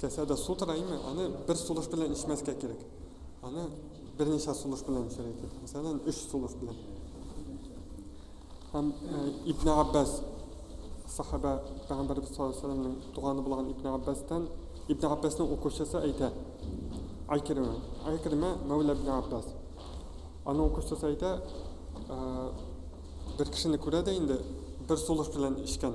Касәдә су тора име, аны бер сулыш белән эчмәскә кирәк. Аны берничә сулыш белән эчәргә кирәк. Мәсәлән, өч сулыш белән. Һәм э, Ибн Габбас сахаба Пәйгамбәрбез саллаллаһу алейһи вәсәлләмнең туганы булган Ибн Габбастан Ибн Габбасның укучысы әйтә. Айкермә. Айкермә Мәүлә Ибн Габбас. Аның укучысы әйтә, э, бер кешене күрә дә инде бер сулыш белән эчкән.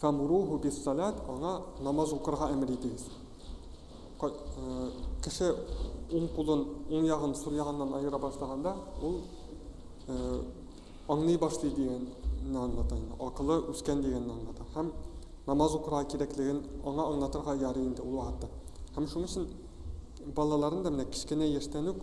Фәмуруху бис-саләт, аңа намаз укырга әмер итегез. Ка- э, Кеше уң кулын уң ягын сул ягыннан аера башлаганда, ул э, аңлый башлый дигәнне аңлата инде. Акылы үскән дигәнне аңлата. Һәм намаз укырга кирәклеген аңа аңлатырга ярый инде ул вакытта. Һәм шуның өчен балаларын да менә кечкенә яшьтән үк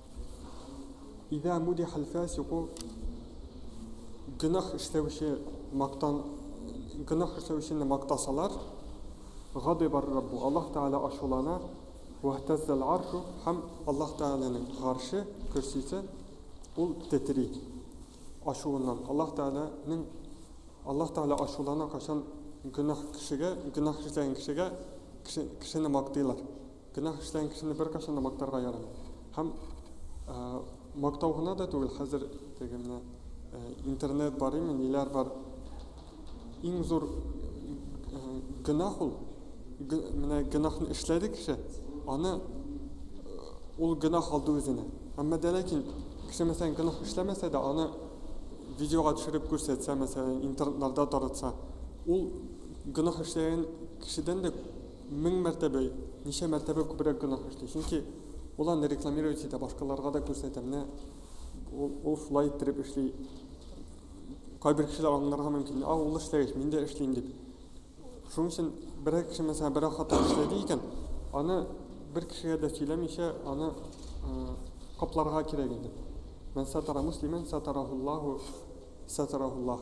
Идә муди хәлфә сику гөнаһ эшләүче мактан гөнаһ эшләүчене мактасалар, гадибар Раббу, Аллаһ Тәгалә ачулана, вәһтәззәл аршу, һәм Аллаһ Тәгаләнең гарше, көрсисе, ул тетри ачуыннан. Аллаһ Тәгаләнең Аллаһ Тәгалә ачулана, кайчан гөнаһ кешегә, гөнаһ эшләгән кешегә кеше, кешене мактыйлар. Гөнаһ эшләгән кешене беркайчан да мактарга ярамый. Һәм мактау гына да түгел, хәзер теге менә интернет бар име, ниләр бар. Иң зур гөнаһ ул. Менә гөнаһны эшләде кеше, аны ул гөнаһ алды үзенә. Әмма дә ләкин кеше мәсәлән гөнаһ эшләмәсә дә, аны видеога төшереп күрсәтсә, мәсәлән, интернетларда таратса, ул гөнаһ эшләгән кешедән дә Мең мәртәбә, ничә мәртәбә күбрәк гөнаһ эшли. Чөнки ул аны рекламировать итә, башкаларга да күрсәтә. Менә ул шулай иттереп эшли. Кайбер кешеләр аңларга мөмкин, а ул эшләгәч, мин дә эшлим дип. Шуның өчен берәр кеше, мәсәлән, берәр хатын эшләде икән, аны бер кешегә дә сөйләмичә, аны капларга кирәк иде. Мән сатара муслимен сатарахуллаху сатарахуллах.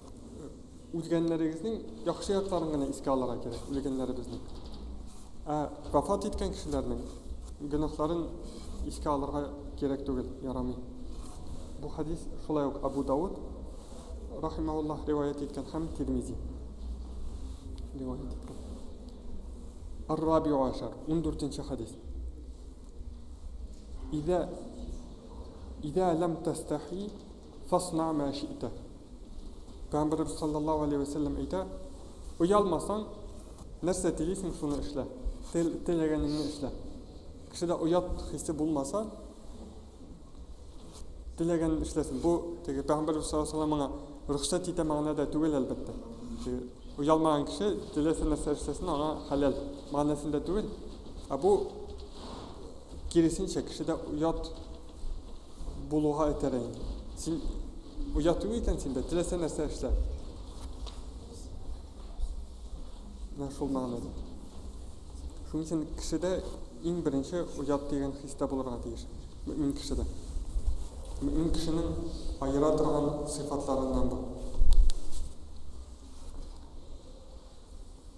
Узгәннәрегезнең яхшы якларын гына искә алырга кирәк, үлгәннәребезнең. Ә вафат иткән кешеләрнең гөнаһларын искә алырга кирәк түгел, ярамый. Бу хадис шулай ук Абу Дауд рахимауллаһ риваять иткән һәм Тирмизи риваять иткән. Ар-Рабиу ашар, 14-нче хадис. Идә идә лам тастахи Фасна мә ши'тә. Пәйгамбәребез саллаллаһу алейһи вә сәлләм әйтә, Оялмасаң, нәрсә телисең, шуны эшлә. Тел, теләгәнеңне эшлә. Кешедә оят хисе булмаса, теләгәнен эшләсен. Бу теге Пәйгамбәребез саллаллаһу алейһи вә сәлләм аңа рөхсәт итә мәгънәдә түгел, әлбәттә. Теге оялмаган кеше теләсә нәрсә эшләсен, аңа хәләл мәгънәсендә түгел. Ә бу киресенчә, кешедә оят булуга этәрә инде. Син оя түгел икән синдә, теләсә нәрсә эшлә. Менә шул мәгънәдә. Шуның өчен кешедә иң беренче оят дигән хис тә булырга тиеш. Мөмин кешедә. Мөмин кешенең аера торган сыйфатларыннан бу.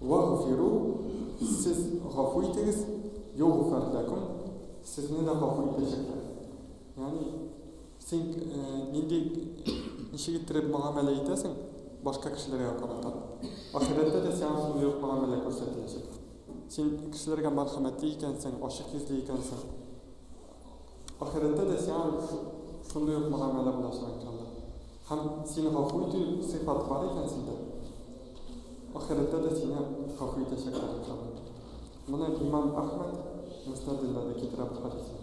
Вәгъфиру, сез гафу итегез, йогъфар ләкүм, сезне дә гафу итәчәкләр. Ягъни, син нинди, ничек иттереп мөгамәлә итәсең, башка кешеләргә карата, ахирәттә дә сиңа шундый ук мөгамәлә күрсәтеләчәк. Син кешеләргә мәрхәмәтле икәнсең, ачык йөзле икәнсең. Ахирәттә дә сиңа шундый ук мөгамәлә булачак икән Алла. Һәм сине гафу итү сыйфат бар икән синдә. Ахирәттә дә сине гафу итәчәкләр икән Алла. Моны имам Әхмәд Мөснәдендә дә китерә бу хәдисне.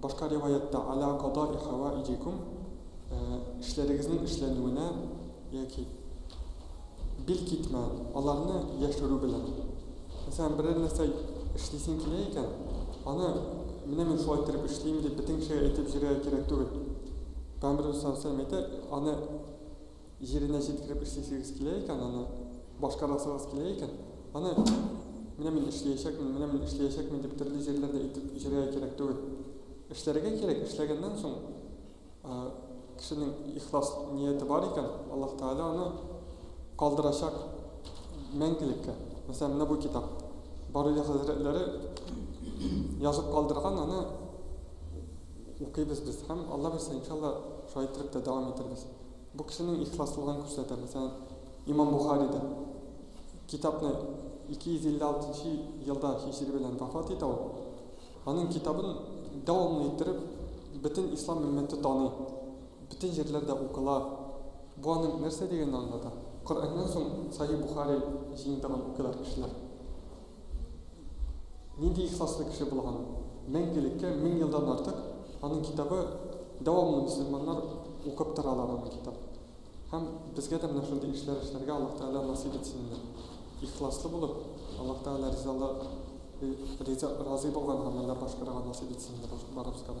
Башка риваятьтә Аля кадои хәваиҗикум, эшләрегезнең эшләнүенә, яки бил китмә, аларны яшерү белән. Мәсәлән, берәр нәрсә эшлисең килә икән, аны менә мин шулай иттереп эшлим дип бөтен кешегә әйтеп йөрергә кирәк түгел. Пәйгамбәребез саллаллаһу галәйһи ва сәлләм әйтә, аны Җиренә җиткереп эшлисегез килә икән, аны башкарасыгыз килә икән, аны менә мин эшләячәкмен, менә мин эшләячәкмен дип төрле җирләрдә итеп җөргә кирәк түгел. Эшләргә кирәк, эшләгәннән соң кешенең ихлас нияте бар икән, Аллаһ Тәгалә аны калдырачак мәңгелеккә. Мәсәлән, менә бу китап. Баруя хәзрәтләре язып калдырган аны Укыйбыз без һәм, Алла бирсә, иншалла, шулай иттереп тә дәвам итербез. Бу кешенең ихласлыгын күрсәтә. Мәсәлән, Имам Бухари да китапны 256 нчы елда һиҗри белән вафат итә ул. Аның китабын дәвамлы иттереп бөтен ислам өммәте таный, бөтен җирләрдә укыла. Бу аның нәрсә дигәнен аңлата. Коръәннән соң Сахи Бухари җыентыгын укыйлар кешеләр. Нинди ихласлы кеше булган! Мәңгелеккә мең елдан артык аның китабы дәвамлы мөселманнар укып торалар аның китап. Һәм безгә дә менә шундый эшләр эшләргә Аллаһ Тәгалә насыйп итсен иде. Ихласлы булып, Аллаһ Тәгалә ризалы риза разый булган гамәлләр башкарырга насыйп итсен инде барыбызга да.